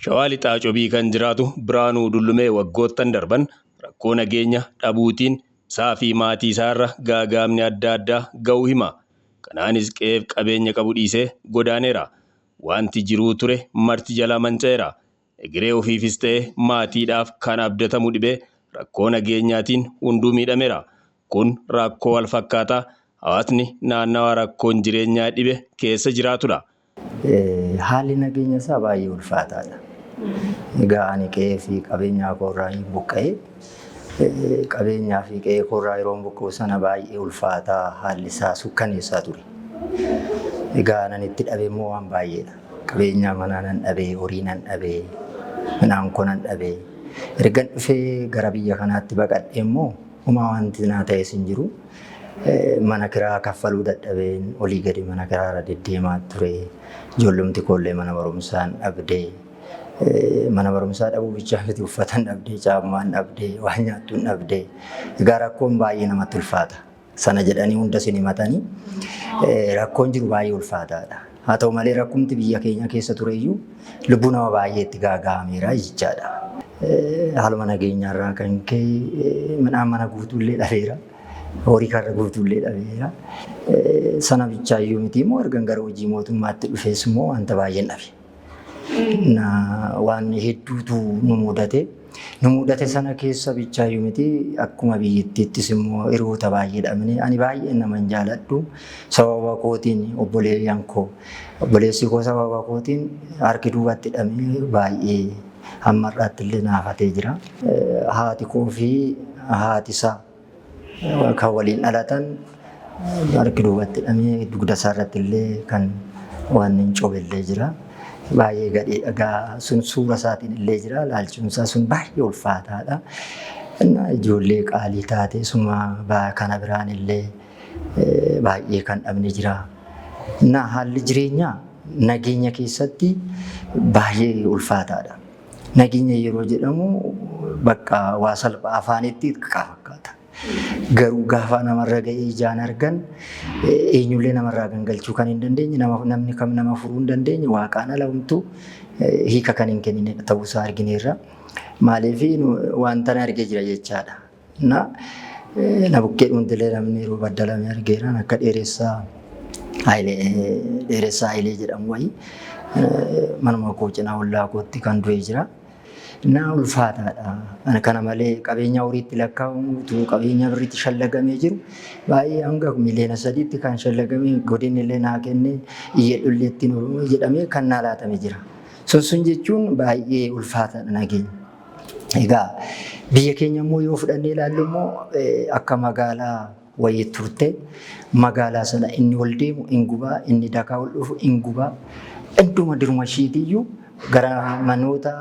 Shawaa Lixaa Cobii kan jiraatu Biraanuu Dullumee waggoottan darban rakkoo nageenya dhabuutiin isaa fi maatii isaa irra gaagaamni adda addaa ga'uu hima. Kanaanis qe'eef qabeenya qabu dhiisee godaaneera. Waanti jiruu ture marti jalaa manca'eera. Egeree ofiifis ta'e maatiidhaaf kan abdatamu dhibee rakkoo nageenyaatiin hunduu miidhameera. Kun rakkoo walfakkaataa hawaasni naannawaa rakkoon jireenyaa dhibe keessa jiraatudha. Haalli nageenya isaa baay'ee ulfaataadha. Egaa ani qe'ee fi qabeenyaa koorraa hin buqqa'e. Qabeenyaa fi qe'ee koorraa yeroon buqqa'u sana baay'ee ulfaataa haalli isaa sukkaneessaa ture. Egaa nan itti dhabe immoo waan baay'eedha. Qabeenyaa manaa nan dhabee, horii nan dhabee, midhaan koo nan dhabee. Ergan dhufee gara biyya kanaatti baqadhee immoo homaa wanti naa ta'es hin jiru. Mana kiraa kaffaluu dadhabeen olii gadi mana kiraa irra deddeemaa ture. Ijoollumti koollee mana barumsaa hin dhabdee. Mana barumsaa dhabuu bichaa miti uffata hin dhabdee, caammaa hin dhabdee, waan nyaattu hin dhabdee. Egaa rakkoon baay'ee namatti ulfaata. sana jedhanii hunda isin himatanii rakkoon jiru baay'ee ulfaataadha. Haa ta'u malee rakkumti biyya keenya keessa tureyyuu lubbuu nama baay'ee itti gaaga'ameera jechaadha. Haaluma nageenyaarraa kan ka'e midhaan mana guutuullee dhabeera. Horii karra guutuullee dhabeera. Sana bichaa iyyuu miti immoo ergan gara hojii mootummaatti dhufees immoo wanta baay'een dhabe. Waan hedduutu nu mudate. Nu mudate sana keessa bichaayyuu miti, akkuma biyyittiittis immoo hiriyoota baay'ee dhabne. Ani baay'een nama hin jaaladhu. Sababa kootiin obboleeyyan koo, obboleessi koo sababa kootiin harki duubatti hidhamee baay'ee hamma har'aatti illee naafatee jira. Haati koo fi haati isaa kan waliin dhalatan harki duubatti hidhamee dugda isaa irratti illee kan waan hin coobe illee jira. Baay'ee gadhee dhagaa sun suura isaatiin illee jira. Laalchuun isaa sun baay'ee ulfaataadha. Innaa ijoollee qaalii taate suma baa- kana biraan illee eh, baay'ee kan dhabne jira. Innaa haalli jireenyaa nageenya keessatti baay'ee ulfaataadha. Nageenya yeroo jedhamu bakka waa salphaa afaanitti xiqqaa fakkaata. Garuu gaafa namarra ga'ee ijaan argan eenyullee namarraa gangalchuu kan hin dandeenye namni kam nama furuu hin dandeenye waaqaan ala homtuu hiika kan hin kennine ta'uusaa argineerra. Maaliif wanta arge jira jechaadha. Na, na bukkee dhuuntilee namni yeroo baddalame argeeraan akka dheeressaa Hayilee dheeressaa Hayilee jedhamu wayii manuma koo cinaa ollaa kootti kan du'e jira. Naa ulfaataadha. Ana kana malee qabeenya horiitti lakkaa'amu utuu qabeenya birriitti shallagamee jiru baay'ee hanga miliyoona sadiitti kan shallagamee godinni illee naa kennee iyyadhu illee ittiin jedhamee kan naa laatame jira. Sun sun jechuun baay'ee ulfaataadha nageenya. Egaa biyya keenya immoo yoo fudhannee ilaallu immoo akka magaalaa wayii turte magaalaa sana inni ol deemu in gubaa inni dakaa ol dhufu in gubaa hunduma diruma ishiitiyyuu gara manoota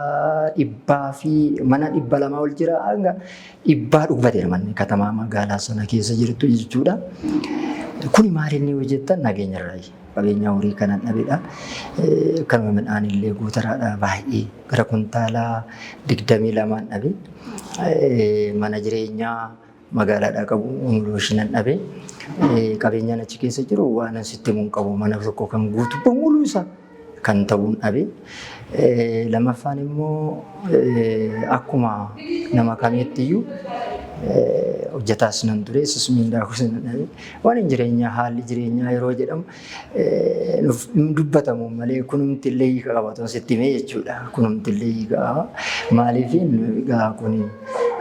dhibbaa fi mana dhibba lamaa ol jira hanga dhibbaa dhugbateera manni katamaa magaalaa sana keessa jirtu jechuudha. Kuni maal inni hojjetan nageenya irraa Qabeenyaa horii kanan dhabedha. Kanuma midhaanillee gootaraadha baay'ee gara kuntaala 22n dhabe. Mana jireenyaa magaalaadhaa qabu umulooshinan dhabe. Qabeenyaan achi keessa jiru waanan sitti himu hin qabu. Mana tokko kan guutu bamuluu isaa kan ta'uun dhabe. Lammaffaan immoo akkuma nama kamiitti iyyuu hojjetaas nan ture. Yesus miindaa koos nan dhabe. Waa'een jireenyaa haalli jireenyaa yeroo jedhamu nuuf hin dubbatamu malee kunumti illee hiika qaba otoo sitti himee jechuudha. Kunumti illee hiika qaba. Maaliif egaa kun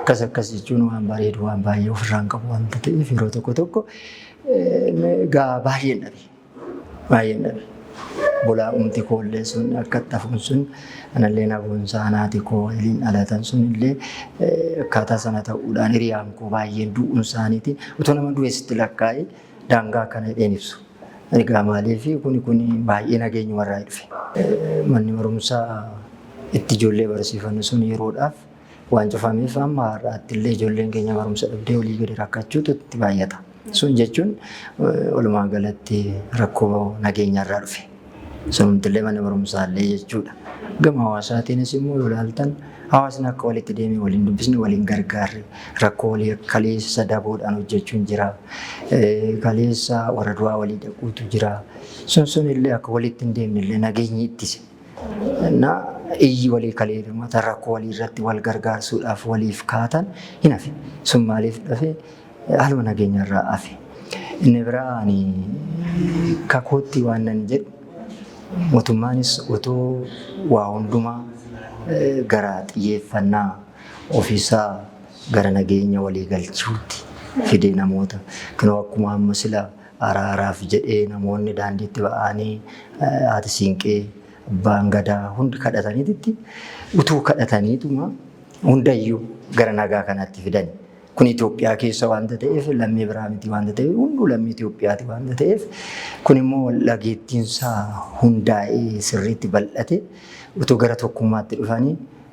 akkas akkas jechuun waan bareedu waan baay'ee ofirraa hin qabu wanta ta'eef yeroo tokko tokko egaa baay'een dhabe. Baay'een dhabe. Bulaa umti koollee sun akka itti hafuun sun anallee na boonsa anaati koo waliin dhalatan sun illee akkaataa sana ta'uudhaan hiriyaan koo baay'een du'uun isaaniitiin utuu nama du'eessitti lakkaa'ee daangaa akkana hidheen ibsu. Egaa maaliif kuni kuni baay'ee nageenyuma irraa dhufe. Manni barumsaa itti ijoollee barsiifannu sun yeroodhaaf Waan cufameef amma har'aatti illee ijoolleen keenya barumsa dhabdee olii gadi rakkachuutu itti baay'ata. Sun jechuun walumaa galatti rakkoo nageenyarraa dhufe. Sunumti illee mana barumsaa illee jechuudha. Gama hawaasaatiinis immoo yoo ilaaltan hawaasni akka walitti deemee waliin dubbisne waliin gargaarre rakkoo walii kaleessa daboodhaan hojjechuun jira. Kaleessa warra du'aa walii dhaquutu jira. Sun sun illee akka walitti hin deemne illee nageenyi ittise. na iyyi walii kalee birmata rakkoo walii irratti wal gargaarsuudhaaf waliif kaatan hin hafe. Sun maaliif dhafe? Haaluma nageenya irraa hafe. Inni biraa ani kakootti waan nan jedhu mootummaanis otoo waa hundumaa gara xiyyeeffannaa ofiisaa gara nageenya walii galchuutti fidee namoota kanoo akkuma amma sila Araaraaf jedhee namoonni daandiitti ba'aanii haati siinqee, abbaan gadaa hundi kadhataniititti utuu kadhataniituma hundayyuu gara nagaa kanaatti fidani. Kun Itoophiyaa keessa waanta ta'eef lammii biraa miti waanta ta'eef hunduu lammii Itoophiyaati waanta ta'eef kun immoo waldhageettiinsaa hundaa'ee sirriitti bal'ate utuu gara tokkummaatti dhufanii